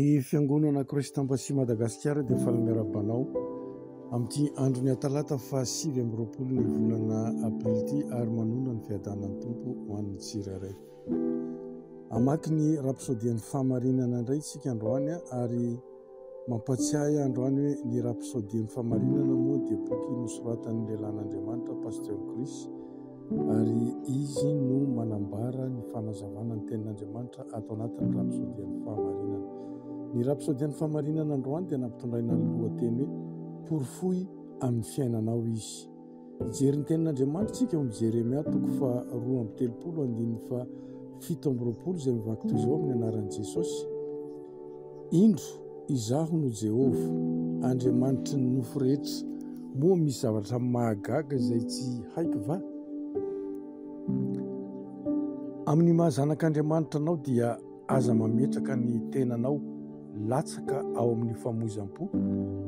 Ny Fiangonana Kristanpa sy Madagasikara dia faly miarahaba anao amin'ity andron'ny Atalata faha sivy amby roapolo ny volana Aprily ity ary manonona ny fiadanan'ny Tompo ho an'ny tsirairay. Hamaky ny rapsodian'ny fahamarinana indray isika androany ary mampatsiahy androany hoe ny rapsodian'ny fahamarinana moa dia boky nosoratan'ny lehilahin'Andriamanitra Pasteur Chris Ary izy no manambara ny fanazavana ny tenin'Andriamanitra ato anatin'ny rapsôdian'ny fahamarinana. Ny rapsôdian'ny fahamarinana androany dia nampitondraina ny lohateny hoe Porofoy amin'ny fiainanao izy. Hijery ny tenin'Andriamanitra isika ao amin'ny Jeremia toko faharoa amby telopolo andininy faha fito amby roapolo izay mivaky toy izao amin'ny anaran'i Jesosy, Indro, izaho no Jehovah, Andriamanitry ny nofo rehetra. Moa misy zavatra mahagaga izay tsy haiko va? Amin'ny maha zanak'Andriamanitra anao dia aza mametraka ny tenanao latsaka ao amin'ny famoizam-po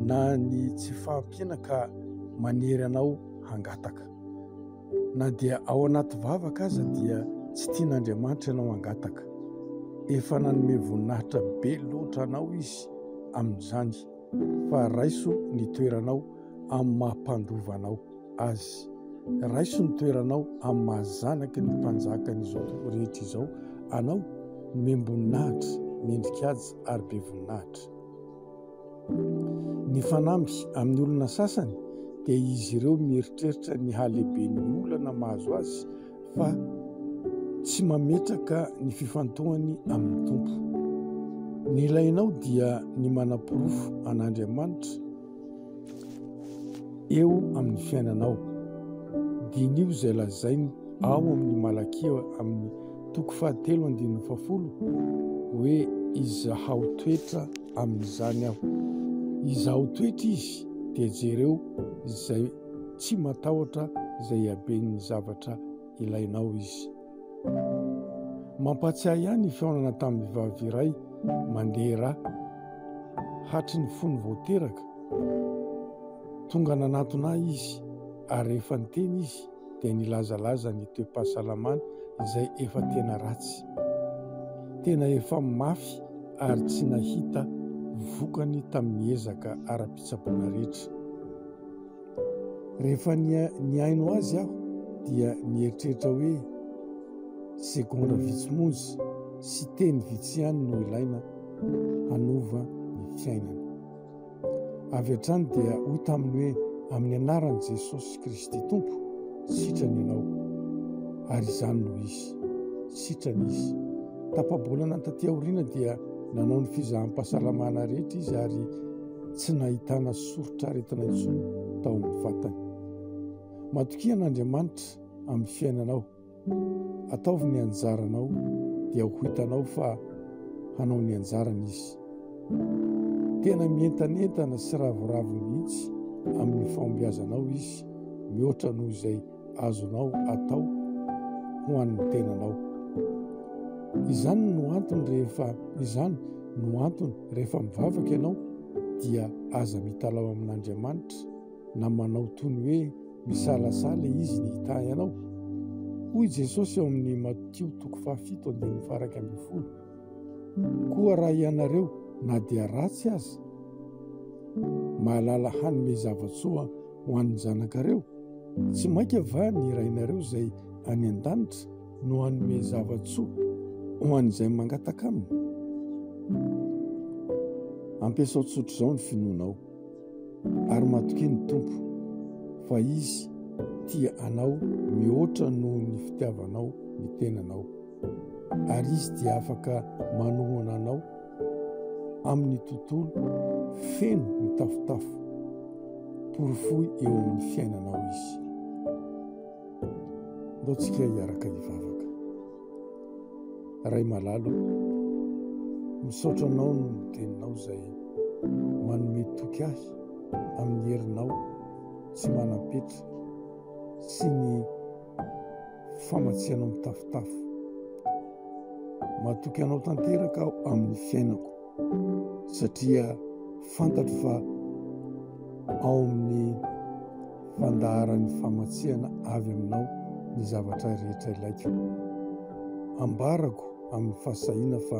na ny tsy fahampiana ka manery anao hangataka. Na dia ao anaty vavaka aza dia tsy tian'Andriamanitra ianao hangataka. Efa nanome voninahitra be loatra anao izy amin'izany fa raiso ny toeranao amin'ny maha mpandova anao azy. Raiso ny toeranao amin'ny maha zanaky ny mpanjakan'izao tontolo rehetra izao anao, nomem-boninahitra, mendri-kaja ary be voninahitra. Ny fanamby amin'ny olona sasany dia izy ireo mieritreritra ny halehiben'ny olana mahazo azy fa tsy mametraka ny fifantohany amin'ny Tompo. Ny ilainao dia ny manaporofo an'Andriamanitra eo amin'ny fiainanao. Diniho izay lazainy ao amin'ny Malakia amin'ny toko fahatelo andininy fahafolo hoe izahaotoetra amin'izany aho. Izaho toetra izy dia jereo izay tsy matahotra izay haben'ny zavatra ilainao izy. Mampatsiahy ihany ny fihaonana tamin'ny vavy iray mandeha ra hatry ny fony vao teraka. Tonga nanatona ahy izy ary rehefa niteny izy dia nilazalaza ny toe-pahasalamany izay efa tena ratsy. Tena efa mafy ary tsy nahita vokany tamin'ny ezaka ara-pitsaboana rehetra. Rehefa nihaino azy aho dia nieritreritra hoe segondra vitsy monja sy teny vitsy ihany no ilaina hanova ny fiainana. Avy hatrany dia hoy taminy hoe, Amin'ny anaran'i Jesosy Kristy Tompo, sitrana ianao. Ary izany no izy. Sitrana izy. Tapa-bolana taty aoriana dia nanao ny fizaham-pahasalamana rehetra izy ary tsy nahitana soritr'aretina intsony tao amin'ny vatany. Matokia an'Andriamanitra amin'ny fiainanao. Ataovy ny anjaranao dia ho hitanao fa hanao ny anjarany izy. Tena mientanentana sy ravoravo mihitsy amin'ny fahombiazanao izy mihoatra noho izay azonao atao ho an'ny tenanao. Izany no antony rehefa izany no antony rehefa mivavaka ianao dia aza mitalaho amin'Andriamanitra na manao toy ny hoe misalasala izy ny hitahy anao. Hoy Jesosy ao amin'ny Matio toko fahafito andininy faraka ambin'ny folo. Koa raha ianareo na dia ratsy aza, mahalala hanome zavatsoa ho an'ny zanakareo, tsy mainka va ny rainareo izay any an-danitra no hanome zavatsoa ho an'izay mangataka aminy? Ampiasao tsotr'izao ny finoanao. ary matokia ny Tompo fa Izy tia anao mihoatra noho ny fitiavanao ny tenanao, ary Izy dia afaka manohana anao amin'ny tontolo feno mitafotafo. Porofoy eo amin'ny fiainanao Izy. Ndao tsika hiaraka hivavaka. Ray malala o, misaotra anao noho ny teninao izay manome toky ahy amin'ny herinao tsy manam-petra sy ny famatsianao mitafotafo. Matoky anao tanteraka aho amin'ny fiainako. satria fantatro fa ao amin'ny fandaharan'ny famatsiana avy aminao ny zavatra rehetra ilaiko. Ambarako amin'ny fahasahiana fa